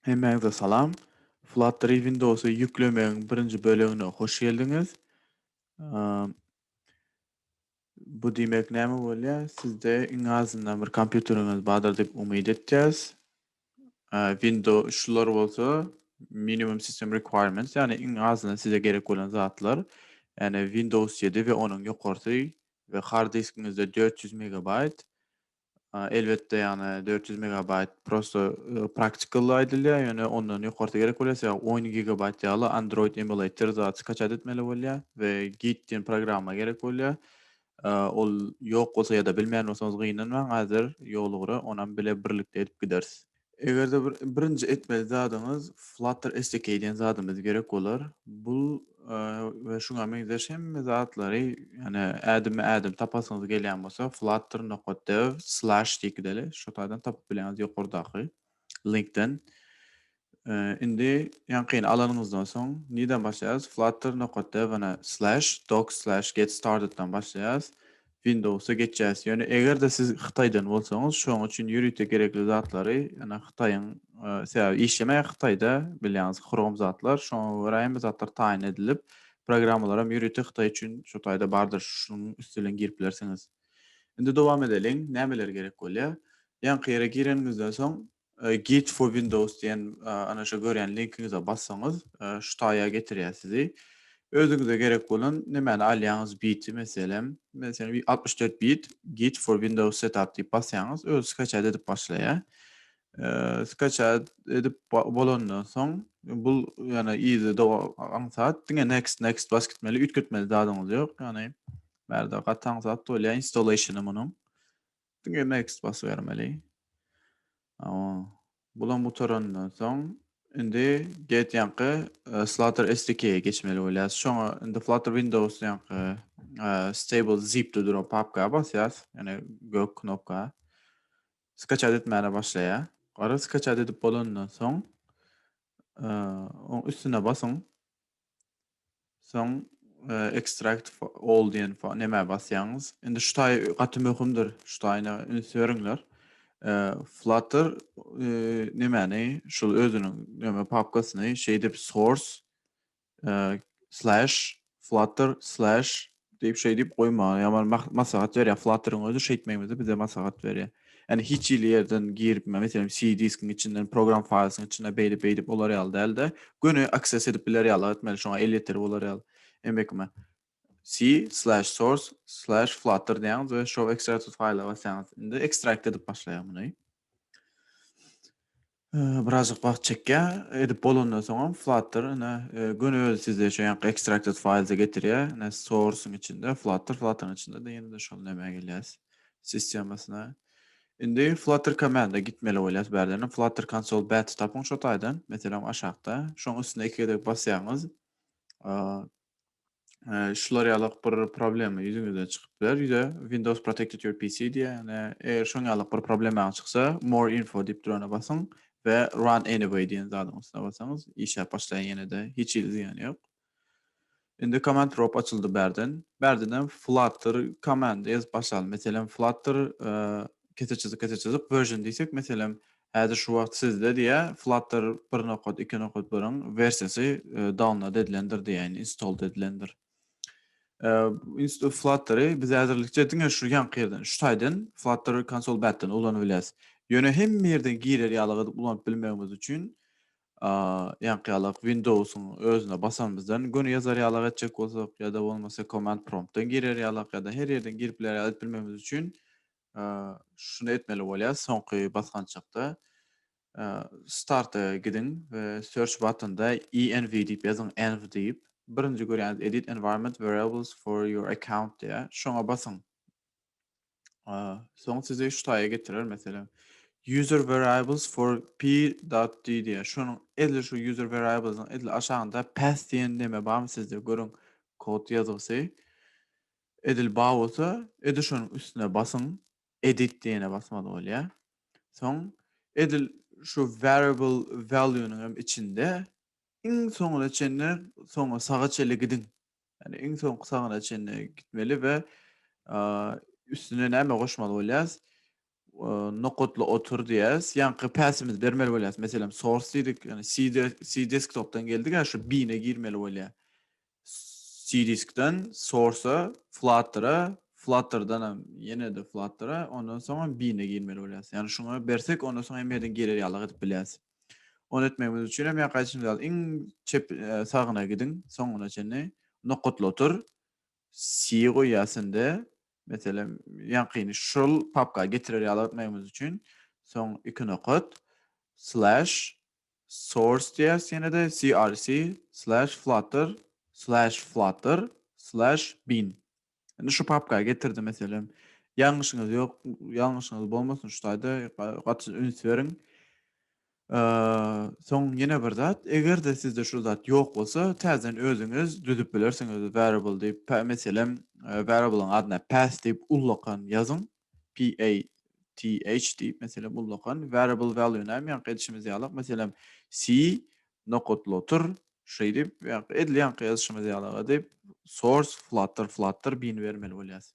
Hemmäňize salam. Flutter-y Windowsy ýüklemegiň birinji bölegine hoş geldiňiz. Bu diýmek näme bolýar? Sizde iň azyndan bir kompýuteriňiz bardyr diýip umyt etýäs. Window şular bolsa minimum system requirements, ýagny iň azyndan size gerek bolan zatlar. Ýagny Windows ýedi we onuň ýokarsy we hard diskiňizde dört ýüz megabaýt Elbetde ýagny dört ýüz megabaýt prosto praktikal aýdylýar ýöne ondan ýokarsy gerek bolýar sebäbi on gigabaýt ýaly android emulator zat skaçat etmeli bolýar we git diýen programma gerek bolýar ol ýok bolsa ýa-da bilmeýän bolsaňyz gynanmaň häzir ýoly gura onam bile birlikde edip gideris. Eger-de bir birinji etmeli zadyňyz Flutter SDK diýen zadymyz gerek bolar. Bu we şuňa meňzeş hemme zatlary, ýani ädimme-ädim tapasyňyz gelýän bolsa flutter nokta dev slash ýekideli şu taýdan tapyp bilýäňiz ýokardaky linkden. Indi ýaňkyny alanyňyzdan soň nirden başlaýarys? Flutter nokta dev slash doc slash get started dan başlaýarys. Windowsa geçýäs. Ýöne eger-de siz Hytaýdan bolsaňyz, şoň üçin ýörite gerekli zatlary, ýöne Hytaýyň, sebäbi işlemeýär Hytaýda, bilýäňiz, Chrome zatlar, şoňa görä hemme zatlar taýyn edilip, programmalaram ýörite Hytaý üçin şo taýda bardyr, şunuň üsti bilen girip bilersiňiz. Indi dowam edeliň, nämeler gerek bolýar? Ýaňky ýere gireniňizden soň, Guide for Windows diýen ana şu görýän linkiňize bassaňyz şu taýa getirýär sizi. Özüňize gerek bolan nemäni alýaňyz biti meselem. Meselem altmyş dört bit Guide for Windows Setup diýip basýaňyz özi skaçat edip başlaýar. Skaçat edip bolandan soň bu ýana yzy aňsat diňe next next basyp gitmeli üýtgetmeli zadyňyz ýok. Ýagny bärde gaty aňsat bolýar installationy munuň. Diňe next basybermeli. Hawa. Bulam gutarandan soň indi get ýanky Flutter SDK-e geçmeli bolýas. Şoňa indi Flutter Windows ýanky stable zip-de duran papka basýas, ýöne gök knopka. Skaçat etmäne başlaýar. Gara skaçat edip bolandan soň oň üstüne basyň. Soň extract all diýen nämä basýaňyz. Indi şu taý gaty möhümdir. Şu taýyna üns beriňler. Flutter nemäni, şul özüniň näme papkasyny şeýdip source slash flutter slash Diýip şeý diýip goýmaga ýaman maslahat berýär. Flutter-yň özi şeýtmegimizi bize maslahat berýär. Ýani hiç hili ýerden girip, meselem, C diskiň içinden, program files-iň içinden beýdip-beýdip bolar ýaly däldi. Göni access edip biler ýalyga etmeli, şoňa elýeterli bolar ýaly. Emekime C slash source slash flutter diýýäňiz we show extracted file-a basýaňyz. Indi ekstrakt edip başlaýar muny. Birazajyk wagt çekýär. Edip bolandan soňam Flutter ine göni özi sizde şu ýanky extracted files-e getirýär. Ine source-yň içinde Flutter, Flutter-yň içinde-de ýene-de şol nämä gelýäs, sistemasyna. Indi Flutter command-e gitmeli bolýas bärden-ä. Flutter console bat tapyň şo taýdan. Meselem aşakda. Şoň üstüne iki gezek basýaňyz Ee, şular ýalyk bir problema ýüzüňizden çykyp biler. Ýüze Windows Protected Your PC diýýär. Ýani, eger şoň ýalyk bir problemaň çyksa, More Info diýip durana basyň we Run Anyway diýen zadyň üstüne basaňyz, işläp başlaýar ýene-de, hiç hili zyýany ýok. Indi Command Prop açyldy bärden. Bärden hem Flutter Command ýazyp başlaly. Meselem, Flutter ee, kese çyzyk, kese çyzyk, Version diýsek, meselem, Häzir şu wagt sizde diýä Flutter bir nokat, iki nokat birin wersiýasy download edilendir diýäýin, installed edilendir. Flutter-y biz häzirlikçe diňe şu ýanky ýerden, şu taýdan Flutter konsol batdan ulanyp bilýäs. Ýöne hemme ýerden girer ýaly gydyp ulanyp bilmegimiz üçin ýanky ýaly Windows-yň özüne basanymyzdan göni ýazar ýaly etjek bolsak ýa-da bolmasa command prompt-dan girer ýaly ýa-da her ýerden girip biler ýaly edip bilmegimiz üçin şuny etmeli bolýar, soňky basgançakda Start-a gidiň we Search batynda env diýip ýazyň, env diýip, birinji görýäniz Edit Environment Variables for your account diýýär, şoňa basyň. Soň sizi şu taýa getirer, meselem, User Variables for p.d diýýär, şonuň edil şu User Variables-iň edil aşagynda Path diýen neme barmy sizde, görüň, kod ýazgysy. Edil bar bolsa, edil şonuň üstüne basyň, Edit diýene basmaly bolýar. Soň edil şu Variable value-nyň hem içinde iň soňuna çenli soňa saga çenli gidiň. Ýagny iň soňky sagyna çenli gitmeli we üstüne näme goşmaly bolýarys? Nokatla otur diýýäs. Ýaňky päsimizi bermeli bolýas. Meselem, source diýdik. Ýani CD, CD desktopdan geldi-gä şu bin-e girmeli bolýar. CDiskden source-a, Flutter-a, Flutter-dan hem ýene-de Flutter-a, ondan soň hem bin-e girmeli bolýas. Ýani şuňa bersek, ondan soň hemme ýerden girer ýalyk edip bilýäs. Ony etmegimiz üçin hem ýaňky aýdyşymyz ýaly iň çep, sagyna gidiň, soňuna çenli nokatla otur. Si goýýar sende. Meselem, ýaňkyny şol papka getirer ýaly etmegimiz üçin, soň iki nokat, slash, source diýýäs ýene-de, crc, slash, flutter, slash, flutter, slash, bin. Indi şu papka getirdi, meselem, ýalňyşyňyz ýok, ýalňyşyňyz bolmasyn şu taýda, gaty üns beriň. Soň ýene bir zat, eger-de sizde şul zat ýok bolsa, täzeden özüňiz düzüp bilersiňiz variable diýip, pa, meselem, variable-yň adyna path diýip ullakan ýazyň, P-A-T-H diýip, meselem, ullakan, variable value näme, ýaňky edişimiz ýalak, meselem, C nokat lotur, şeýdip, ýaňky edil ýaňky ýazyşymyz ýalak edip, source flutter, flutter, bini bermeli bolýarys.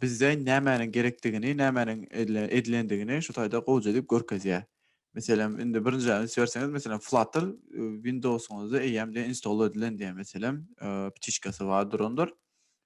bizde nämäniň gerekdigini, nämäniň edilendigini şu taýda gowja edip görkezýär. Meselem, indi birinji üns berseňiz, meselem, Flutter Windowsyňyzda eýýämde install edilen diýen, meselem, ptiçkasy bar durandyr.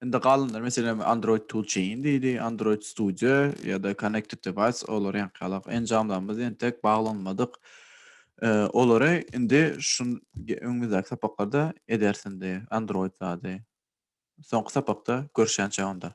Indi galanlar meselem Android Toolchain diýdi, Android Studio ýa-da Connected Device olar ýaňkyýalak enjamlarymyz entek baglanmadyk. Olary indi şu öňümizdäki sapaklarda ederis indi Android zady. Soňky sapakda görüşýänçä onda.